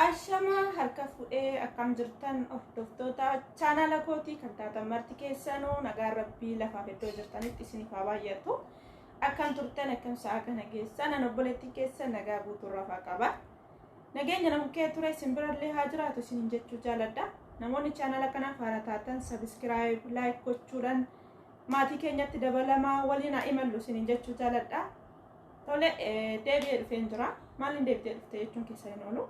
Ashama harka fuudhee akkam jirtan hordoftoota chaanaala kootii kan taatan marti keessanuu nagaan rabbii lafaaf iddoo jirtanitti isiniif haa baay'atu. Akkam turtan akkam sa'a kana geessan nan obboleettii keessa nagaa guutuu rafaa qaba. Nageenya nama kee ture isin birallee haa jiraatu isiniin jechuu jaaladha. Namoonni chaanaala kanaaf haara taatan sabiskiraayib laayik gochuudhaan maatii keenyatti dabalamaa waliin haa imallu isiniin jechuu jaaladha. Tole deebi'ee dhufeen jira. Maaliin deebitee dhufte jechuun keessa hin oolu.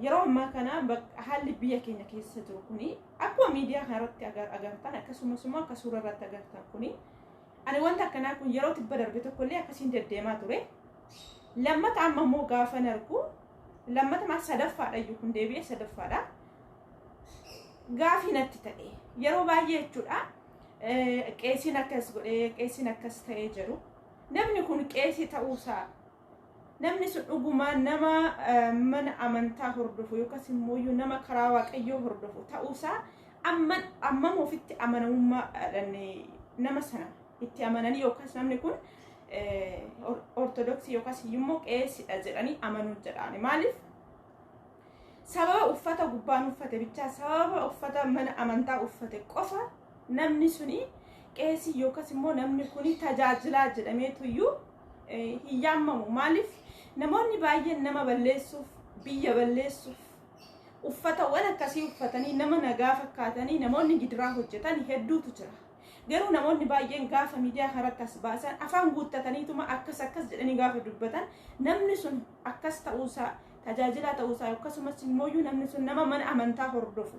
Yeroo ammaa kana haalli biyya keenya keessa jiru kuni akkuma miidiyaa kanarratti agartan akkasumas immoo akka suura irratti agartan kuni ani wanta akkanaa kun yeroo tibba darbe tokkollee akkasiin deddeemaa ture. Lammata amma immoo gaafa argu lammata maal sadaffaadha iyyuu kun deebi'ee sadaffaadha. Gaafii natti ta'e yeroo baay'ee jechuudha qeesiin akkas godhee qeesiin akkas ta'ee jedhu namni kun qeesii ta'uusaa namni sun dhugumaa nama mana amantaa hordofu yookaas immoo nama karaa waaqayyoo hordofu ta'uusaa amman ammam ofitti amanamummaadhaan nama sana itti amananii yookaas namni kun ortodoksii yookaas immoo qeesidha jedhanii amanuu jedhaani maaliif Sababa uffata gubbaan uffate bichaa sababa uffata mana amantaa uffate qofa namni suni qeesii yookas immoo namni kuni tajaajilaa jedhameetuyyuu hin yaammamu. Maaliif namoonni baay'een nama balleessuuf, biyya balleessuuf, uffatawwan akkasii uffatanii nama nagaa fakkaatanii namoonni gidiraa hojjetan hedduutu jira. Garuu namoonni baay'een gaafa miidiyaa kanarratti as baasan afaan guuttataniituma akkas akkas jedhanii gaafa dubbatan namni sun akkas ta'uusaa tajaajilaa ta'uu isaa akkasumas immoo namni sun nama mana amantaa hordofu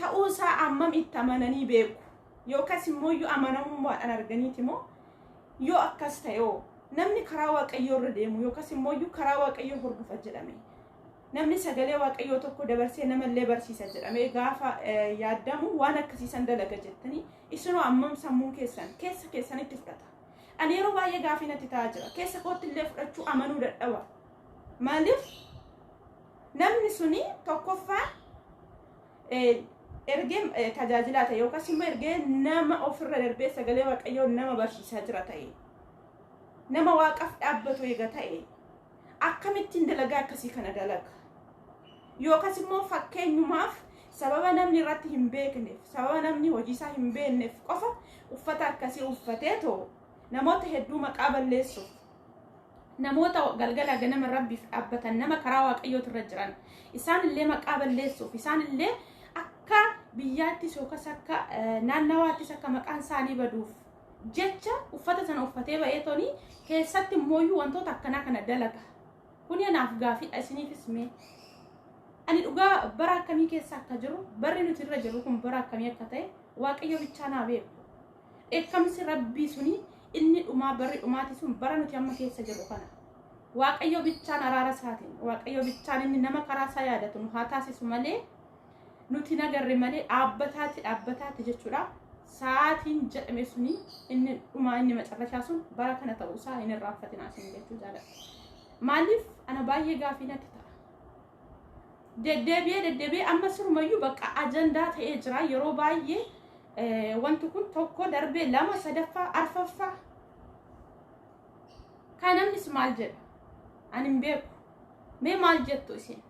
ta'uu isaa ammam itti amananii beeku yookaas immoo amanamummaadhaan arganiiti moo yoo akkas ta'eoo namni karaa waaqayyoo irra deemu yookaas immoo karaa waaqayyoo hordofa jedhame namni sagalee waaqayyoo tokko dabarsee namallee barsiisa jedhame gaafa yaadamu waan akkasiisan dalaga jettanii isinoo ammam sammuun keessan keessa keessanitti fudhata. Ani yeroo baay'ee gaafii natti ta'aa jira. Keessa kootti illee fudhachuu amanuu dadhaba. Maaliif namni suni tokkoffaa eh, ergee eh, tajaajilaa ta'e yookaas immoo ergee nama ofirra darbee sagalee waaqayyoo nama barsiisaa jira ta'e nama waaqaf dhaabbatu eega ta'e akkamittiin dalagaa akkasii kana dalaga yookaas immoo fakkeenyumaaf sababa namni irratti hin beekneef sababa namni hojiisaa hin beekneef qofa uffata akkasii uffatee too namoota hedduu maqaa balleessuuf namoota galgala ganama rabbiif dhaabbatan nama karaa waaqayyootu irra jiran isaan illee maqaa balleessuuf isaan illee akka biyyaattis yookas akka naannawaattis akka maqaan isaanii baduuf jecha uffata sana uffatee ba'ee toni keessatti immooyyuu wantoota akkanaa kana dalaga Kuni anaaf gaafidha isiniifis mee. Ani dhugaa bara akkamii keessa akka jiru barri nuti irra jirru kun bara akkamii akka ta'e waaqayyo bichaa naa beeku. Dheekkamsi rabbii suni inni dhumaa barri dhumaati sun bara nuti amma keessa jirru kana. Waaqayyo bichaan araara isaatiin waaqayyo bichaan inni nama karaa isaa yaadatu nu haa taasisu malee Nuti hin agarre malee dhaabbataatti dhaabbataatti jechuudha. Sa'aatiin jedhame suni inni dhumaa inni macarrashaa sun bara kana ta'uu isaa hin irraanfatinaa isin jechuu jaalladha. Maaliif ana baay'ee gaafii natti ta'a. Deddeebi'ee deddeebi'ee amma sirumayyuu bakka ajandaa ta'ee jira yeroo baay'ee eh, wanti kun tokko darbee lama sadaffaa arfaffaa kan namnis maal jedha ani hin beeku mee maal jettu isin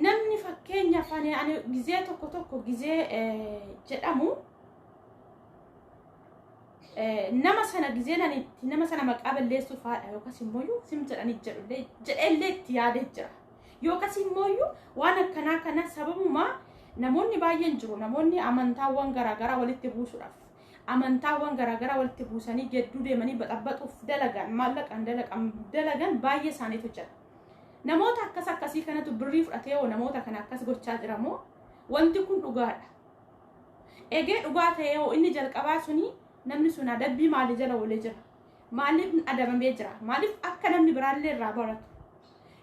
namni fakkeenyaaf ani ani gizee tokko tokko gizee eh, jedhamu eh, nama sana gizee nani itti nama sana maqaa balleessuuf haadha yookas immoo iyyuu sim jedhanii jedhullee jedheellee itti yaadee jira yookas immoo iyyuu waan akkanaa kana sababuma namoonni baay'een jiru namoonni amantaawwan garaagaraa walitti buusuudhaaf amantaawwan garaagaraa walitti buusanii gedduu deemanii baxabaxuuf dalagan maallaqaan dalagan dalagan baay'ee isaaniitu jira Namoota akkas akkasii kanatu birrii fudhatee hoo namoota kana akkas gochaa jira moo wanti kun dhugaadha. Egee dhugaa ta'ee hoo inni jalqabaa suni namni sun adabbii maalii jala oolee jira? Maaliif adabamee jira? Maaliif akka namni biraallee irraa baratu?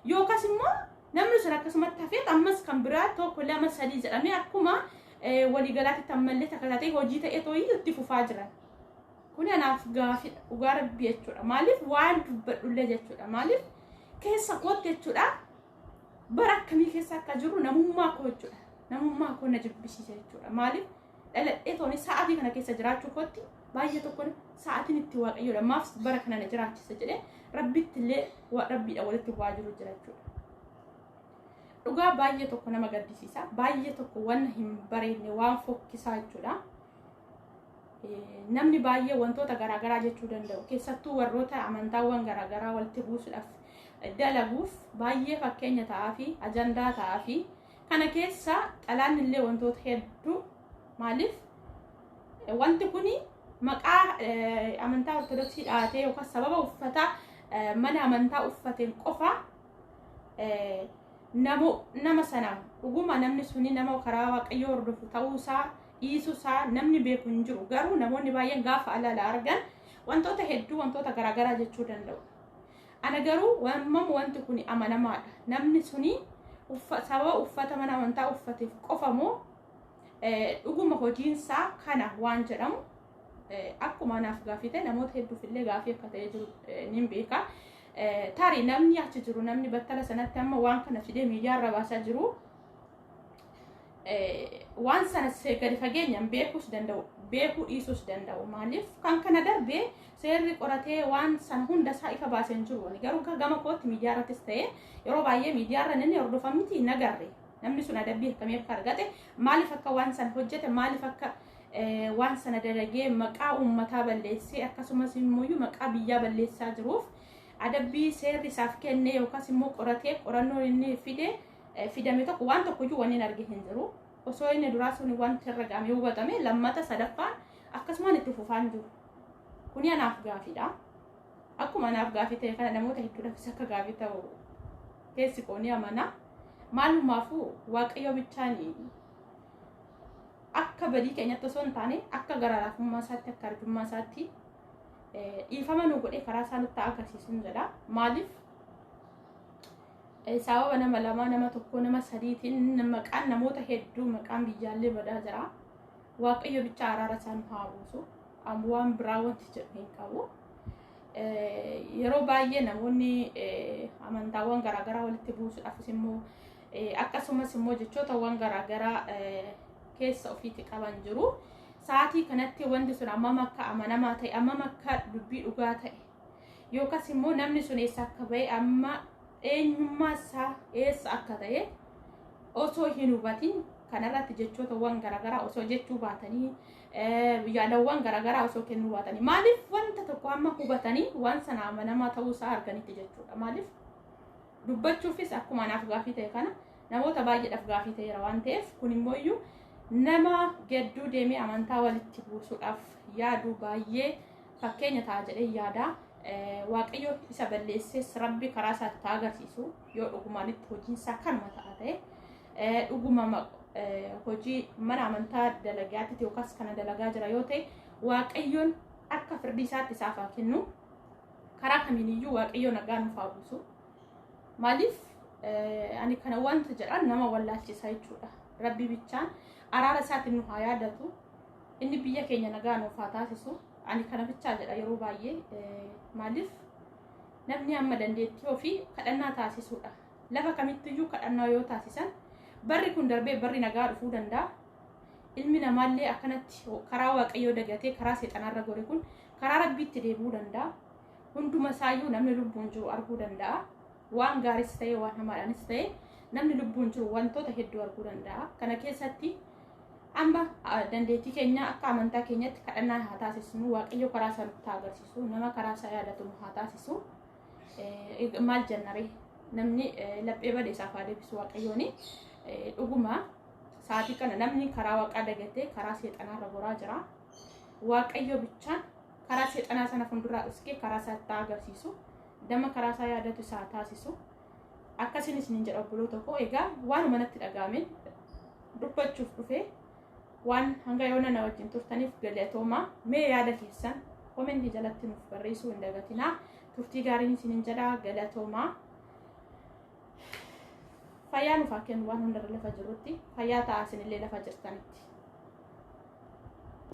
Yookas immoo namni sun akkasumatti hafeet ammas kan biraa tokko lama sadii jedhamee akkuma waliigalaatti ammallee takka taatee hojii ta'ee tooyyuu itti fufaa jiran. Kuni anaaf gaafidha dhugaa rabbi jechuudha. Maaliif waan dubbadhullee jechuudha. Maaliif keessa kootti jechuudha. Bara akkamii keessa akka jiru namummaa koo jechuudha. Namummaa koo na jibbisiisa jechuudha. Maaliif dhaladhee tooni sa'aatii kana keessa jiraachuu kootti baay'ee tokko sa'aatiin itti waaqayyoodha. Maaf bara kana na jiraachisa jedhee rabbitti illee rabbiidha walitti bu'aa jiru jira jechuudha. Dhugaa baay'ee tokko nama gaddisiisa. Baay'ee tokko waan hin bareedne waan fokkisaa jechuudha. namni baay'ee wantoota garaagaraa jechuu danda'u keessattuu warroota amantaawwan garaagaraa walitti buusuudhaaf dalaguuf baay'ee fakkeenya ta'aa fi ajandaa ta'aa fi kana keessa xalaan illee wantoota hedduu maaliif wanti kun maqaa amantaa ortodoksii dhaatee yookaan sababa uffataa mana amantaa uffateen qofa nama sana dhuguma namni suni nama karaa waaqayyoo hordofu ta'uusaa dhiisuu isaa namni beeku hin jiru. Garuu namoonni baay'een gaafa alaala argan wantoota hedduu wantoota garaagaraa jechuu danda'u. Ana garuu wammam wanti kun amanamaadha. Namni suni uffa- sababa uffata mana amantaa uffateef qofa moo eh, dhuguma hojiinsaa kana waan jedhamu eh, akkuma anaaf gaafii ta'e namoota hedduuf illee gaafii akka ta'e jiru eh, nin beeka. Eh, Tarii namni achi jiru namni battala sanatti amma waan kana fidee miidiyaa irra baasaa jiru waan sana gadi fageenyaan beekuus danda'u beekuu dhiisuus danda'u maaliif kan kana darbe seerri qoratee waan sana hunda isaa ifa baasee hin jiru garuu gama kootti miidiyaa irrattis ta'ee yeroo baay'ee miidiyaa irra namni hordofan miti hin agarre namni sun adabbii akkamii akka argate maaliif akka waan sana hojjete maaliif akka waan sana dalagee maqaa uummataa balleessee akkasumas immoo maqaa biyyaa balleessaa jiruuf adabbii seerri isaaf kenne yookaas immoo qoratee qorannoon inni fide fidame tokko waan tokkoyyuu wanni arge hin jiru. Osoo inni duraa sun wanti irra ga'amee hubatame lammata sadaffaan akkasumaan itti fufaan jiru. Kuni anaaf gaafiidha. Akkuma anaaf gaafii ta'e kana namoota hedduudhaafis akka gaafii ta'u keessi qoonii amanaa. Maalumaafuu waaqayyo bichaan akka badii keenyatti osoo hin taane akka gara laafummaa isaatti akka arjummaa isaatti dhiifama nu godhee karaa isaa nutti agarsiisu jedha. Maaliif Sababa nama lamaa, nama tokkoo, nama sadiitiin maqaan namoota hedduu maqaan biyyaallee badaa jira. Waaqayyo bicha araara isaan haa buusu. Amma waan biraa wanti jedhu hin qabu. Yeroo baay'ee namoonni amantaawwan garaagaraa walitti buusuudhaafis immoo akkasumas immoo jechootawwan garaagaraa keessa ofiitti qaban jiru. Sa'aatii kanatti wanti sun ammam akka amanamaa ta'e, ammam akka dubbii dhugaa ta'e yookas immoo namni sun eessa akka ba'e amma eenyummaa isaa eessa akka ta'e osoo hin hubatin kanarratti jechootawwan garaagaraa osoo jechuu baatanii yaadawwan garaagaraa osoo kennuu baatanii maaliif wanta tokko amma hubatanii waan sana amanamaa ta'uu isaa arganitti jechuudha maaliif dubbachuufis akkuma anaaf gaafii ta'e kana namoota baay'eedhaaf gaafii ta'eera waan ta'eef kun immoo iyyuu nama gedduu deemee amantaa walitti buusuudhaaf yaadu baay'ee fakkeenya ta'a jedhee yaada. Waaqayyo isa balleessees rabbi karaa isaatti taa agarsiisu yoo dhugumaan itti hojiin isaa kanuma ta'a ta'e dhuguma hojii mana amantaa dalagaatti yookaas kana dalagaa jira yoo ta'e waaqayyoon akka firdii isaatti isaaf haa kennu karaa kamiiniyyuu waaqayyo nagaa nuuf haa buusu maaliif ani kana wanta jedhan nama wallaalchisaa jechuudha rabbi bichaan araara isaatiin nu haa yaadatu Inni biyya keenya nagaa nuuf haa taasisu. Ani kana bichaa jedha yeroo baay'ee eh, maaliif namni amma dandeettii ofii kadhannaa taasisuudha. Lafa kamittiyyuu kadhannaa yoo taasisan barri kun darbee barri nagaa dhufuu danda'a. Ilmi namaallee akkanatti karaa waaqayyoo dagatee karaa seexanaarra gore kun karaa rabbiitti deebi'uu danda'a. Hunduma isaayyuu namni lubbuun jiru arguu danda'a. Waan gaaris ta'e waan hamaadhaanis ta'e namni lubbuun jiru wantoota hedduu arguu danda'a. Kana keessatti Amma dandeettii keenya akka amantaa keenyatti kadhannaa haa taasisnu. Waaqayyo karaa isaa nutti haa agarsiisu. Nama karaa isaa yaadatu nu haa taasisu. Maal jennaree? Namni laphee bade isaaf haa deebisu waaqayyooni. Dhuguma sa'aatii kana namni karaa waaqaa dagatee karaa seexanaarra goraa jira. Waaqayyo bichaan karaa seexanaa sana fuulduraa dhuskee karaa isaa itti agarsiisu. Nama karaa isaa yaadatu isaa taasisu. Akkasiin isinin jedha obboloota koo egaa waanuma natti dhaga'ame dubbachuuf dhufe waan hanga yoona na wajjin turtaniif galatoomaa mee yaada keessan komentii jalatti nuuf barreessuu hin dagatinaa turtii gaariin isinin jedha galatoomaa fayyaa nuuf haa kennu waan hundarra lafa jirrutti fayyaa ta'aa isinillee lafa jirtanitti.